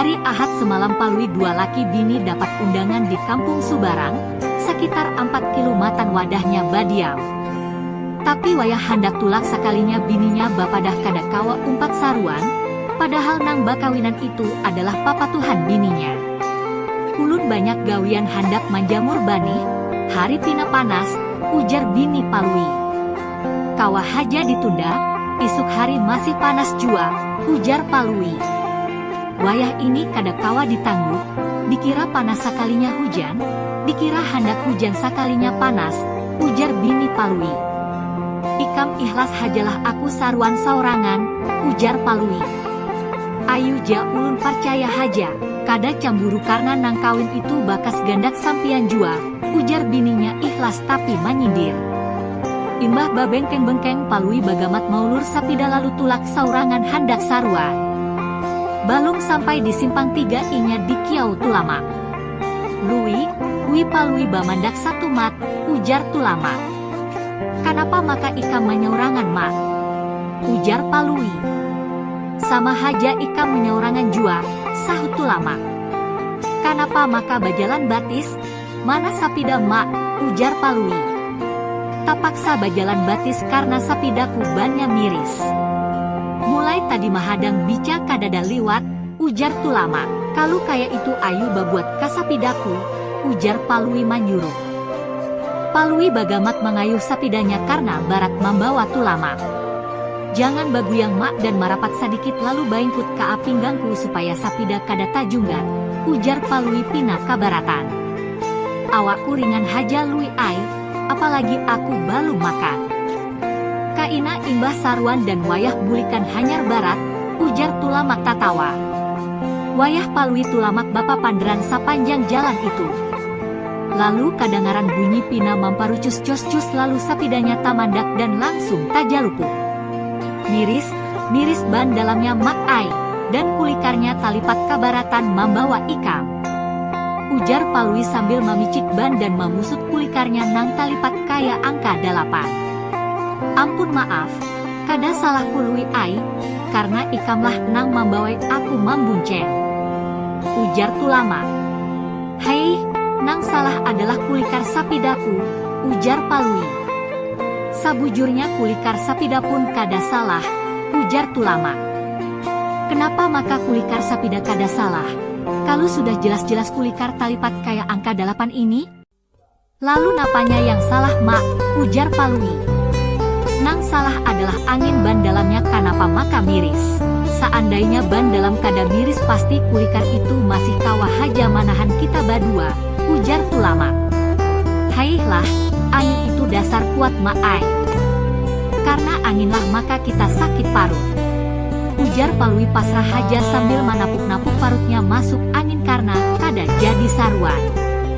Hari Ahad semalam Palui dua laki bini dapat undangan di Kampung Subarang, sakitar ampat kilu matan wadahnya badiam. Tapi wayah handak tulak sakalinya bininya bapadah kada kawa umpat saruan, padahal nang bakawinan itu adalah papatuhan bininya. Ulun banyak gawian handak manjamur banih, hari pina panas, ujar bini Palui. Kawa haja ditunda, isuk hari masih panas jua, ujar Palui. Wayah ini kada kawa ditangguh, dikira panas sakalinya hujan, dikira handak hujan sakalinya panas, ujar bini Palui. Ikam ihlas hajalah aku saruan saorangan, ujar Palui. Ayu ja ulun parcaya haja, kada camburu karna nang kawin itu bakas gandak sampiyan jua, Ujar bininya ikhlas tapi manyindir. Imbah babengkeng-bengkeng Palui bagamat maulur sapida lalu tulak saurangan handak sarua. Balum sampai di simpang tiga inya dikiau Tulamak. Lui, ui Palui bamandak satu Mat, ujar Tulamak. Kanapa maka ikam manyaurangan Mak? ujar Palui. Sama haja ikam manyaurangan jua, sahut Tulamak. Kanapa maka bajalan batis? Mana sapida Mak? ujar Palui. Tapaksa bajalan batis karna sapidaku bannya miris. Mulai tadi mahadang bica kadada liwat, ujar Tulamak. Kalu kaya itu ayu babuat ka sapidaku, ujar Palui manyuruh. Palui bagamat mangayuh sapidanya karna barat mambawa Tulamak. Jangan baguyang Mak dan marapat sadikit lalu baingkut kaa pinggangku supaya sapida kada tajunggat, ujar Palui pina kabaratan. Awakku ringan haja Lui ai, apalagi aku balum makan. Kaina imbah saruan dan wayah bulikan hanyar barat, ujar Tulamak tatawa. Wayah Palui Tulamak bapapanderan sapanjang jalan itu. Lalu kadangaran bunyi pina mamparucus cus-cus lalu sapidanya tamandak dan langsung tajalupuk. Miris, miris ban dalamnya Mak ai, dan kulikarnya talipat kabaratan mambawa ikam. Ujar Palui sambil mamicik ban dan mamusut kulikarnya nang talipat kaya angka dalapan. Ampun maaf, kada salahku Lui ai, karna ikamlah nang mambawai aku mambunceng. Ujar Tulamak. Hei, nang salah adalah kulikar sapidaku, ujar Palui. Sabujurnya kulikar sapidapun kada salah, ujar Tulamak. Kenapa maka kulikar sapida kada salah, kalu sudah jelas-jelas kulikar talipat kaya angka dalapan ini? Lalu napanya yang salah Mak? ujar Palui. Nang salah adalah angin ban dalamnya kanapa maka miris. Saandainya ban dalam kada miris pasti kulikan itu masih kawa haja manahan kita badua, ujar Tulamak. Haihlah, angin itu dasar kuat Mak ai. Karna anginlah maka kita sakit parut. Ujar Palui pasrah haja sambil manapuk-napuk parutnya masuk angin karna kada jadi saruan.